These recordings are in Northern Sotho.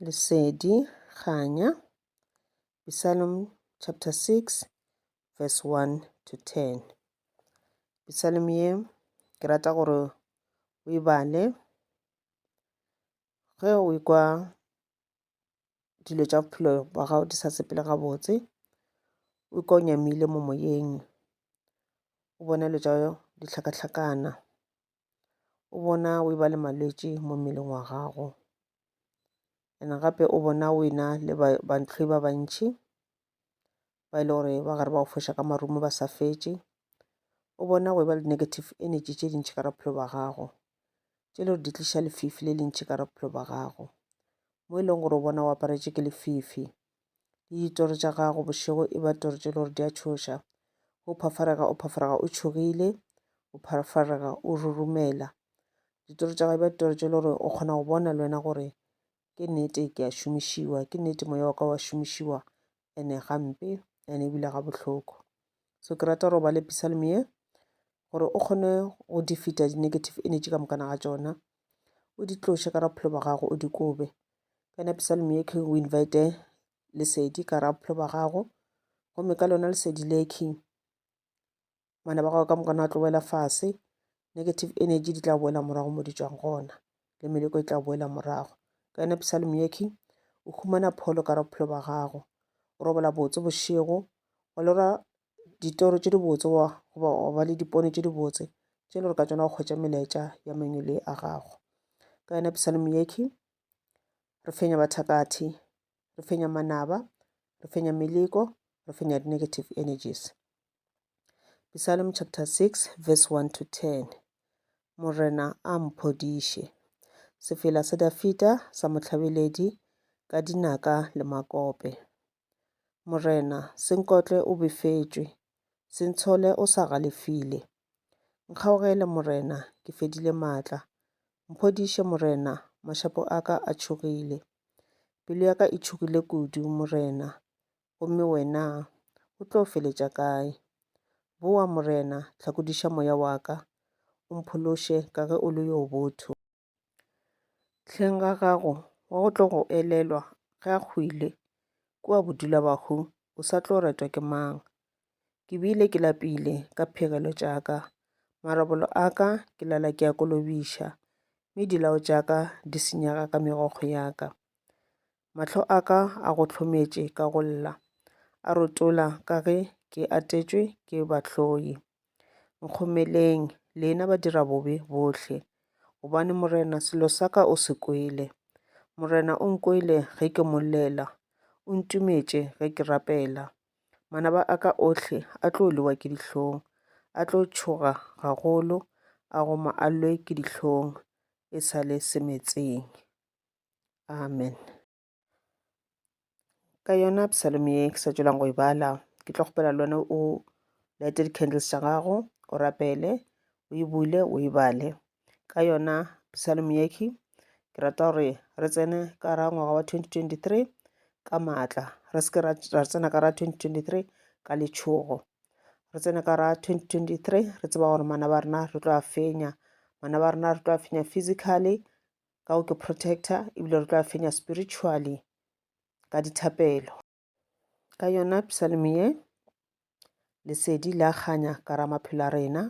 Lesedi, Kganya, Psalm chapter 6 verse 1 to 10. Psalm ye ke rata gore o e bale ge o ikwa dilo tša bophelo ba gago di sa sepele gabotse o ikwa o nyamile mo moyeng o bona dilo tša dihlakahlakana o bona o e ba le malwetši mo mmeleng wa gago ene gape o bona o ena le bantlhoi ba bantšhi ba e le gore ba gare ba go foša ka marumo ba sa fetše o bona go e ba le negative energy tše dintšhi ka ra bophelo ba gago tše le gore di tliša lefifi le lentšhi ka ra bophelo ba gago mo e leng gore o bona o aparetše ke lefifi le ditoro tša gago bošego e ba toro tše le gore di a tšhoša o phafarega o phafarega o tšhogile o phafarega o rurumela ditoro tša gago e ba ditoro tše le gore o kgona go bona le wena gore ke nnete ke a šomišiwa ke nnete moya wa ka wa šomišiwa ene gampe ene ebile ga bohloko so ke rata gore o ba le pisalmie gore o kgone go di feta di-negative energy ka mokana ga tšona o di tloše ka ra bophelo ba gago o di kobe kana psalm ye king o invite lesedi ka ra bophelo ba gago gomme ka lona lesedi le king bana ba gago ka mokana wa tlo boela fase negative energy di tla boela morago mo di tswang gona le meleko e tla boela morago ka yona psalm ye king o humana pholo ka ra bophelo ba gago o robola botse bošego go lora ditoro tše dibotse wa goba wa ba le dipone tše dibotse tše le gore ka tsona go kgwetša melaetša ya mengwele a gago ka yona psalm yekhi re fenya bathakathi re fenya manaba re fenya meleko re fenya di-negative energies psalm chapter 6 verse 1 to 10 morena a mphodiše sefela sa dafita sa mohlabeledi ka dinaka le makope Morena, Senkotle o befetšwe. Sentshole o sa galefile. Nkgaogele, Morena, ke fedile maatla. Mphodiše, Morena, mašapo a ka a tšhogile. Pelo ya ka e tšhogile kudu, Morena, gomme Wena O tlo feletša kae? Bowa, Morena, hlakodiša moya wa ka, o mphološe ka ge o le yo botho. Hleng ga gago wa go tlo go elelwa ge a hwile kua bodula bahu o sa tlo retwa ke mang. Ke bile ke lapile ka phegelo tša ka, marobolo a ka ke lala ke a kolobiša, mme dilao tša ka di senyega ka megokgo ya ka. Mahlo a ka a go hlometše ka go lla, a rotola ka ge ke atetšwe ke bahloi. Nkgomeleng, lena badirabobe bohle, gobane Morena selo sa ka o se kwele. Morena o nkwele ge ke mo llela, o ntumetše ge ke rapela. Manaba a ka ohle a tlo lewa ke dihlong, a tlo tšhoga gagolo, a go ma a lwe ke dihlong e sa le semetseng. Amen. ka yona psalm ye ke sa tswelang go e bala ke tlo kgopela le wena o lighte di-candles tša gago o rapele o e bule o e bale ka yona psalm yeke ke rata gore re tsene ka ra ngwaga wa 2023 ka maatla re seke ra tsena ka ra 2023 ka letšhogo re tsene ka ra 2023 re tseba gore mana ba rena re tlo a fenya mana ba rena re tlo a fenya physically ka go ke protector ebile re tla fenya spiritually ka dithapelo ka yona psalm ye lesedi la kganya ka ra maphelo a rena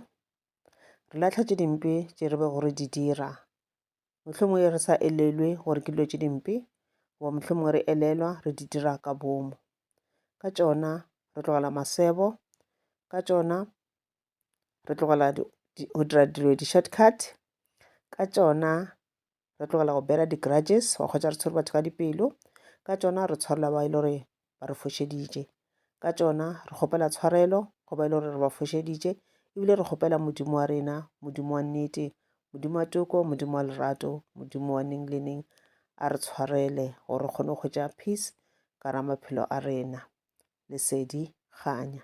re latlha tše dimpe tše re be gore di dira mohlomong e re sa elelwe gore ke dilo tše dimpe goba mohlomong re elelwa re di dira ka bomo ka tšona re tlogela masebo ka tšona re tlogela go dira dilo di-short cut ka tšona, re tlogela go bear-a di-grudges wa kgwetša re tshwere batho ka dipelo ka tšona, re tshwarela ba e le gore ba re fošeditše ka tšona, re kgopela tshwarelo go ba e le gore re ba fošeditše ebile re kgopela Modimo wa rena, Modimo wa nnete, Modimo wa toko, Modimo wa lerato, Modimo wa neng le neng a re tshwarele gore re kgone go hwetša peace ka ra maphelo a rena. Lesedi kganya.